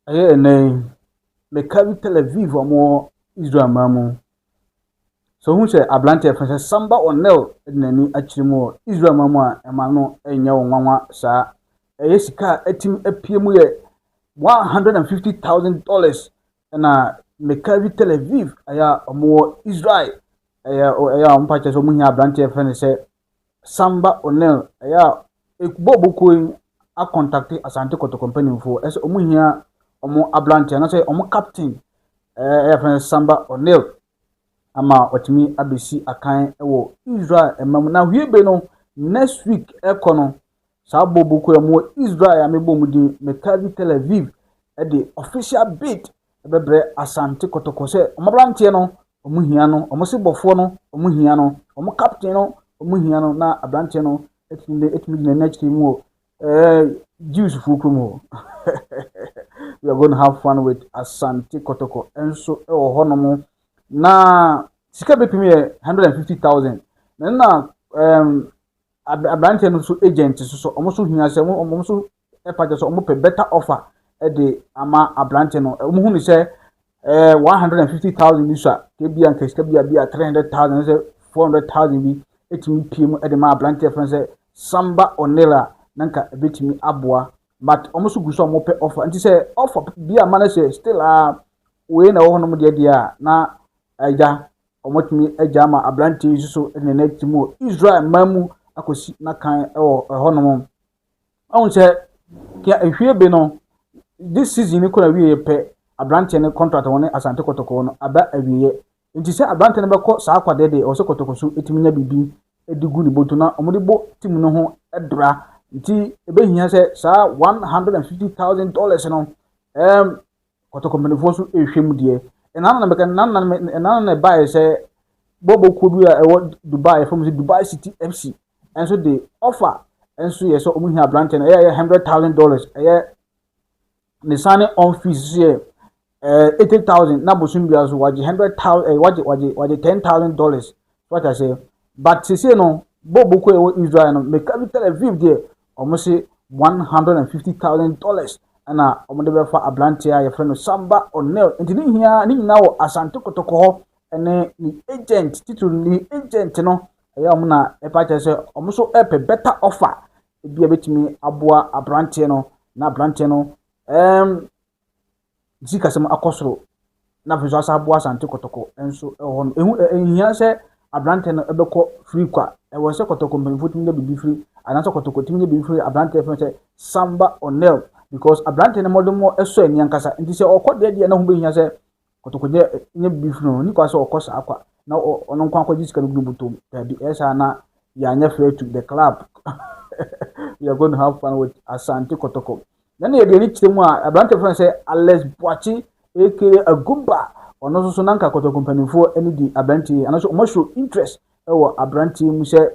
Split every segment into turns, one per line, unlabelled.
Ɛyɛ ɛnnɛ yi, mekari Tel Aviv a wɔwɔ Israel man mu. So wohu sɛ aberanteɛ a yɛfrɛ no sɛ Samba Onel de n'ani akyerɛ mu wɔ Israel man mu a ɛma no nyɛ wo nwanwa saa. Ɛyɛ sika a atumi apue mu yɛ one hundred and fifty thousand dollars ɛna mekari Tel Aviv ɛyɛ a wɔwɔ Israel ɛyɛ ɛyɛ a wɔpa kyɛ sɛ wɔhia aberanteɛ a yɛfrɛ no sɛ Samba O'Neill yɛ a ekuba a ɔbɔ kuo yi akɔntakte Asante Kɔtɔkɔ mpanimfoɔ sɛ wɔn hia wɔn aberanteɛ anasɛ wɔn captain ɛɛ yɛfrɛ no Samba O'Neill ama ɔtumi abɛsi akan wɔ Israel ɛma mu. Na hwie be no next week ɛkɔ no saa bɔ ɔbɔ kuo yi wɔn Israel a mebɔ mu din Mekavi Tel Aviv de official bid ɛbɛbrɛ Asante Kɔtɔkɔ sɛ wɔn aberanteɛ no wɔn hia no, wɔn sebɔfoɔ no, wɔn hia no, wɔn captain no, wɔn hia no, na aberanteɛ no atumi de atumi gyina n'akyiri mu wɔ ɛɛ Jews fuo kurom hɔ. We are going to have fun with Asante Kɔtɔkɔ nso wɔ hɔnom. Na sika bɛpem yɛ hundred and fifty thousand. Na na ɛɛm aberanteɛ no nso agent nso so wɔn nso hia sɛ wɔn nso ɛpa kyɛ sɛ wɔn pɛ better offer ɛde ama aberante no wɔn hu no sɛ ɛɛ one hundred and fifty thousand bi so a ebi a nka sika bi a bi a three hundred thousand sɛ four hundred thousand bi etumi pie mu ɛde ma aberante fɛn sɛ samba onela na nka ebetumi aboa but wɔn nso gu so a wɔn pɛ offer nti sɛ offer bi a ma no sɛ still a wei na ɛwɔ hɔ nom deɛ deɛ a na ɛgya wɔn atumi ɛgya ama aberante yi nso so ɛde ne nan ti mu wɔ israel man mu akɔsi n'akan ɛwɔ ɛhɔ nom. Ɔhu sɛ kia ehwie be no this season no kɔ awieɛ pɛ abranteɛ no contract wɔne Asante Kɔtɔkɔɔ no aba awieɛ nti sɛ abranteɛ no bɛkɔ saa akwadeɛ deɛ ɔsɛ Kɔtɔkɔ so tumi nya biribi de gu ne boto na wɔn de bɔ team no ho bra nti ebɛhia sɛ saa one hundred and fifty thousand dollars no ɛɛm kɔtɔkɔ mpanimfoɔ nso rehwɛ mu deɛ. Ɛna na mɛka ɛna na ɛna na ɛbaeɛ sɛ bɔbɔ kuo bi a ɛwɔ Dubai yɛfrɛ mu sɛ Dubai City FC nso de offer nso yɛ sɛ wɔn hia aberanteɛ no ɛyɛ ɛyɛ hundred thousand dollars ɛyɛ ne signing on fees nso yɛ ɛɛ eh, eighty thousand na bosom biara so wagye hundred thousand ɛɛ eh, wagye wagye wagye ten thousand dollars so ata sɛ but sese no bɔbɔ kuo a ɛwɔ Israel no mɛka bi tell Aviv deɛ wɔse one hundred and fifty thousand dollars ɛna wɔde bɛfa aberanteɛ a yɛfrɛ no Samba O'Neal nti ne nyinaa ne nyinaa wɔ Asante Kotoko hɔ ɛne ne agent titiri ne agent no ɛyɛ wɔn na ɛpa kyerɛ sɛ wɔn nso ɛpɛ better offer ebi a betumi aboa aberanteɛ no na aberanteɛ no ɛɛm ne sikasɛm akɔ soro na afei nso asan aboa Asante Kɔtɔkɔ nso wɔ hɔ no, ɛho ɛnhia sɛ aberantɛ no ɛbɛkɔ firi kwa. Ɛwɔ sɛ Kɔtɔkɔ mpanyinfoɔ tumi nya biribi firi anaasɛ Kɔtɔkɔ tumi nya biribi firi aberantɛ fɛn sɛ Samba Onel because aberantɛ no mmɔdemmɔ ɛsɔ ani ankasa nti sɛ ɔkɔ deɛ deɛ na ho bɛhia sɛ Kɔtɔkɔ nya nya biribi firi no, nikwa sɛ ɔkɔ saa kwa na ɔno nko akɔgye sika no gu ne bɔtɔm daabi ɛyɛ saa na yɛanyɛ fair to the club we are going to have fun with Asante Kɔtɔkɔ Na nea ɛde ani kyerɛ mu a, aberante a wɔfrɛ no sɛ Alex Boakye aka Agumba, ɔno nso so na anka Kɔtɔkɔ mpanimfoɔ ani di aberante yi, anaasɛ wɔn show interest wɔ aberante yi mu sɛ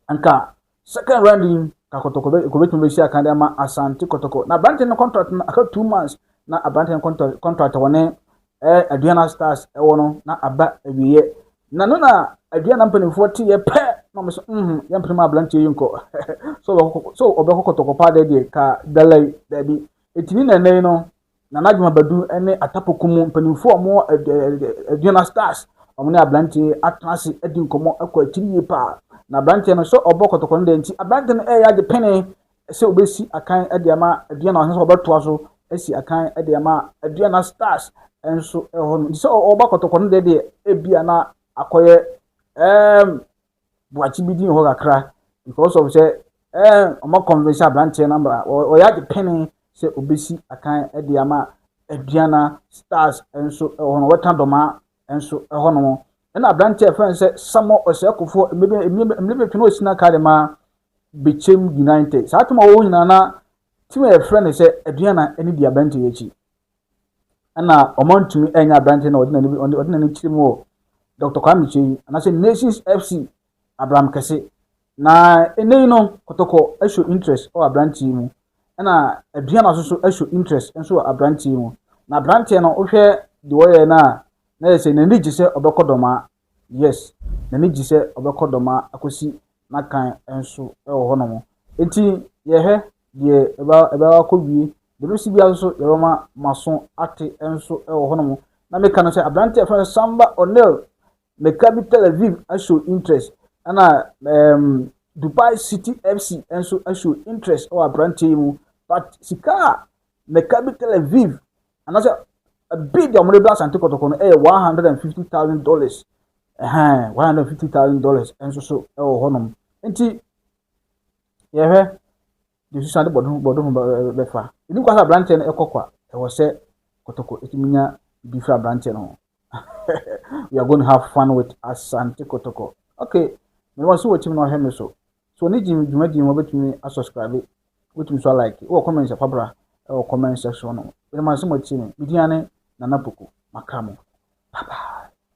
anka second round yi ka Kɔtɔkɔ bɛ kɔbɛtumi bɛsi akan de ama Asante Kɔtɔkɔ. Na aberante no contract no aka two months na aberante no contract contract wɔne ɛɛ aduan a stars ɛwɔ no na aba awieɛ na no na aduan na mpanimfoɔ teɛ pɛ na wɔn so mhm yɛn mpene mu aberanteɛ yi nkɔ so ɔbɛkɔ so ɔbɛkɔ kɔtɔkɔ paa deɛ deɛ ka dalai daabi etini na ɛnɛ yi no na n'adwuma badu ɛne atapoko mu mpanimfoɔ wɔn aduan na stars wɔn ne aberanteɛ atena ase adi nkɔmɔ ɛkɔ akyiri yie paa na aberanteɛ no so ɔbɔ kɔtɔkɔ no deɛ nti aberanteɛ no ɛyɛ ade pene ɛsɛ sɛ wɔbɛsi akan de ama Aduana ɔhene sɛ wɔbɛtoa so asi akan de ama Aduana Stars nso hɔ no. Nti sɛ ɔba kɔtɔkɔ no deɛ deɛ ebi a na akɔyɛ ɛɛm buakye bi din hɔ kakra because of sɛ ɛɛm ɔma convince aberanteɛ no ama ɔyɛ ade pene sɛ ɔbɛsi akan de ama Aduana Stars nso hɔ no wɔka dɔma nso hɔ no. Ɛna aberanteɛ a ɛfɛn sɛ Samuel Ɔsɛkofoɔ mmiri bɛtwe na ɔsi n'aka de ma Bechem United. Saa tim a wɔwɔ nyinaa na tim a yɛfrɛ no sɛ Aduana ne di aberante yi akyi. Ɛna wɔantumi ɛnyɛ aberante na ɔde n'ani kyerɛ mu wɔ Dr. Kwame Kyei anaasɛ Nations FC Abraham Kɛse. Na ɛnɛ yi no Kɔtɔkɔ ɛhyɛ interest wɔ aberante yi mu. Ɛna Aduana nso so ɛhyɛ interest nso wɔ aberante yi mu. Na aberanteɛ no wohwɛ deɛ ɔyɛ no a na yɛ sɛ n'ani gye sɛ ɔbɛkɔ dɔmaa Yes, n'ani gye sɛ ɔbɛkɔ dɔm ara akɔsi n'akan nso wɔ hɔnom. Enti yɛhwɛ deɛ ɛbɛ ɛbɛ akɔwie. Deɛ ɛbɛsi biara nso yɛbɛma maso ate nso wɔ hɔnom. Na meka no sɛ aberanteɛ a yɛfrɛ no Samba O'Neal, meka bi Tel Aviv ahyɛ interest, ɛna um, Dubai City FC nso ahyɛ interest wɔ aberanteɛ yi mu. But sika a meka bi Tel Aviv anaasɛ bid a wɔde brɛ asante kɔtɔkɔ no yɛ one hundred and fifty thousand dollars ɛhɛn one hundred and fifty thousand dollars nso so wɔ hɔnom nti yɛhwɛ de susan de bɔdɔm bɔdɔm bɛfa ɛni kɔ sɛ aberanteɛ no ɛkɔ kwa ɛwɔ sɛ kɔtɔkɔ ɛtumi nya bi fira aberanteɛ no ho we are going to have fun with Asante Kotoko. Okay, me want so watching no him me so. So ni jim juma jim wa betumi a subscribe, betumi so like. Wo comment sa pabra, wo comment section no. Me want so watching me. Me diane na na poko. Makamo. Bye bye.